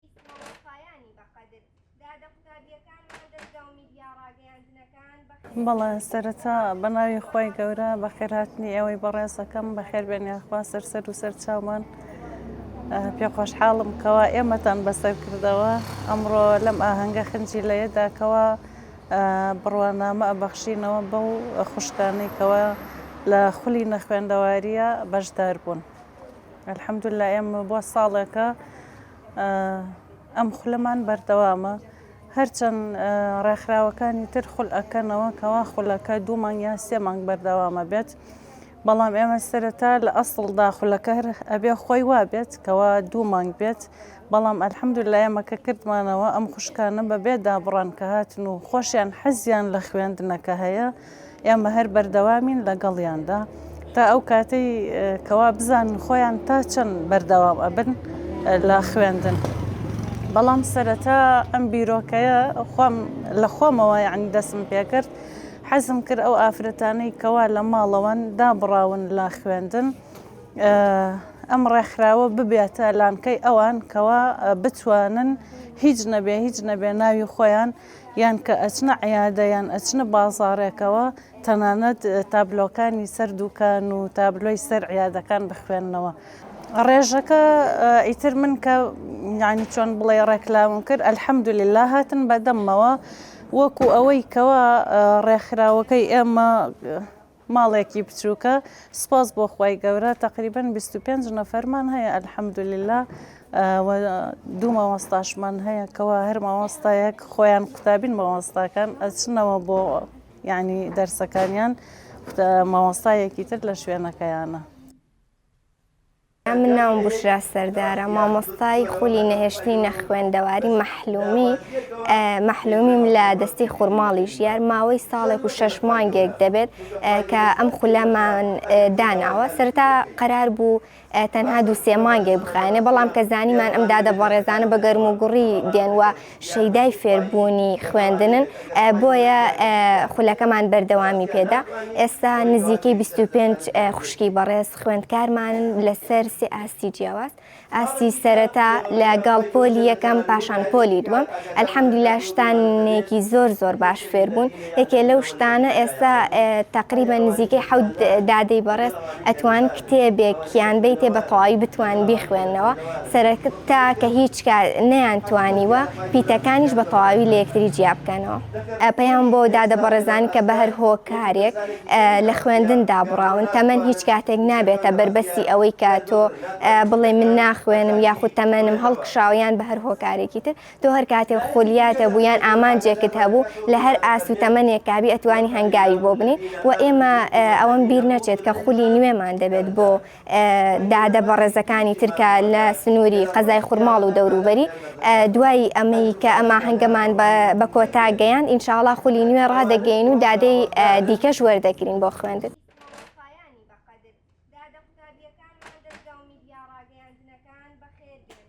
ئیسماعیلخایانی بەقەدر. دادە قوتابیەکانمان دەزگاو میدیا ڕاگەیاندنەکان بەخێر. بەڵێ سەرەتا بەناوی خوای گەورە بەخێرهاتنی ئێوەی بەڕێز ئەکەم بەخێر بێن یاخوا سەرسەر و سەر چاومان پێ خۆشحاڵم کەوا ئێمەتان بەسەر کردەوە ئەمڕۆ لەم ئاهەنگە خنجی لەیەدا کەوا بڕوانامە ئەبەخشینەوە بەو خوشکانەی کەوا لە خولی نەخوێندەواریە بەشدار بوون. الحمدللە ئێمە بۆ ساڵێکە ئەم خولەمان بەردەوامە هەرچەند ڕێکخراوەکانی تر خول ئەەکەنەوە کەوا خولەکە دوو مانگ یا سێ مانگ بەردەوامە بێت بەڵام ئێمە سەرەتا لە ئەسڵ داخولەکە ئەبێ خۆی وابێت کەوا دوو مانگ بێت بەڵام ئەلحەمد لە ئێمەکە کردمانەوە ئەم خوشکانە بەبێ دابڕان کە هاتن و خۆشیان حەزیان لە خوێندنەکە هەیە ئێمە هەر بەردەوامین لەگەڵیاندا تا ئەو کاتەی کەوا بزانن خۆیان تا چەند بەردەوام ئەبن لە خوێندن. بەڵام سەرەتا ئەم بیرۆکەیە خۆم لە خۆمەوە یعنی دەسم پێکرد حەزم کرد ئەو ئافرەتانەی کەوا لە ماڵەوەن دابڕاون لە خوێندن ئەم ڕێکخراوە ببێتە لانکەی ئەوان کەوا بتوانن هیچ نەبێ هیچ نەبێ ناوی خۆیان یان کە ئەچنە عیادە یان ئەچنە بازاڕێکەوە تەنانەت تابلۆکانی سەر دووکان و تابلۆی سەر عیادەکان بخوێننەوە ڕێژەکە ئیتر من کە یعنی چۆن بڵێ ڕێکلاوم کرد ئەلحەمدوللا هاتن بەدەممەوە وەکو ئەوەی کەوا ڕێکخراوەکەی ئێمە ماڵێکی بچوکە سوپاس بۆ خوای گەورە تەقریبەن بیست و پێنج نەفەرمان هەیە الحمدللە و دوو مامۆستاشمان هەیە کەوا هەر مامۆستایەک خۆیان قوتابین مامۆستاکان ئەچنەوە بۆ یعنی دەرسەکانیان مامۆستایەکی تر لە شوێنەکەیانە من ناوم بوشرا سەردارە مامۆستای خولی نەهێشتنی نەخوێندەواری مەحلومی مەحلومیم لە دەستی خورماڵی ژیار ماوەی ساڵێک و شەش مانگێک دەبێت کە ئەم خولەمان داناوە سەرتا قەرار بوو تەنها دو سێ مانگێک بخانێ بەڵام کە زانیمان ئەم دادە بەڕێزانە بە گەرم و گوڕی دێنوە شەیدای فێربوونی خوێندنن بۆیە خولەکەمان بەردەوامی پێدا ئێستا نزیکەی 25 خوشکی بەڕێز خوێندکارمانن لەسەر سێ ئاستی جیاواز ئاستی سەرەتا لە گەڵ پۆلی یەکەم پاشان پۆلی دووەم ئەلحەمدیلا شتانێکی زۆر زۆر باش فێربوون یەکێ لەو شتانە ئێستا تقریبا نزیکەی حەوت دادەی بەڕێز ئەتوان کتێبێک یان بیتێ بە تەواوی بتوان بیخوێندنەوە سەرەکتا کە هیچ نەیان توانیوە پیتەکانیش بە تەواوی لە یەکتری جیا بکەنەوە پەیام بۆ دادە بەڕێزان کە بە هەر هۆکارێک لە خوێندن دابڕاون تەمەەن هیچ کاتێک نابێتە بەربەسی ئەوەی کە تۆ بڵێ من ناخوێنم یاخود تەمەنم هەڵکشاویان بە هەر هۆکارێکی تر تۆ هەر کاتێک خولیات هەبوو یان ئامانجێکت هەبوو لە هەر ئاست و تەمەنێک کابی ئەتوانی هەنگاوی بۆ بنی و ئێمە ئەوەم بیر نەچێت کە خولی نوێمان دەبێت بۆ دادە بەڕێزەکانی ترکە لە سنووری قەزای خورماڵ و دەوروبەری دوای ئەمەی کە ئەما هەنگەمان بە کۆتا گەیان ئینشاڵا خولی نوێ ڕادەگەین و دادەی دیکەش وەردەگرین بۆ خوێندن. Gracias. دادە قوتابیەکانمان دەزگا و میدیا ڕاگەیاندنەکان بەخێر بێن.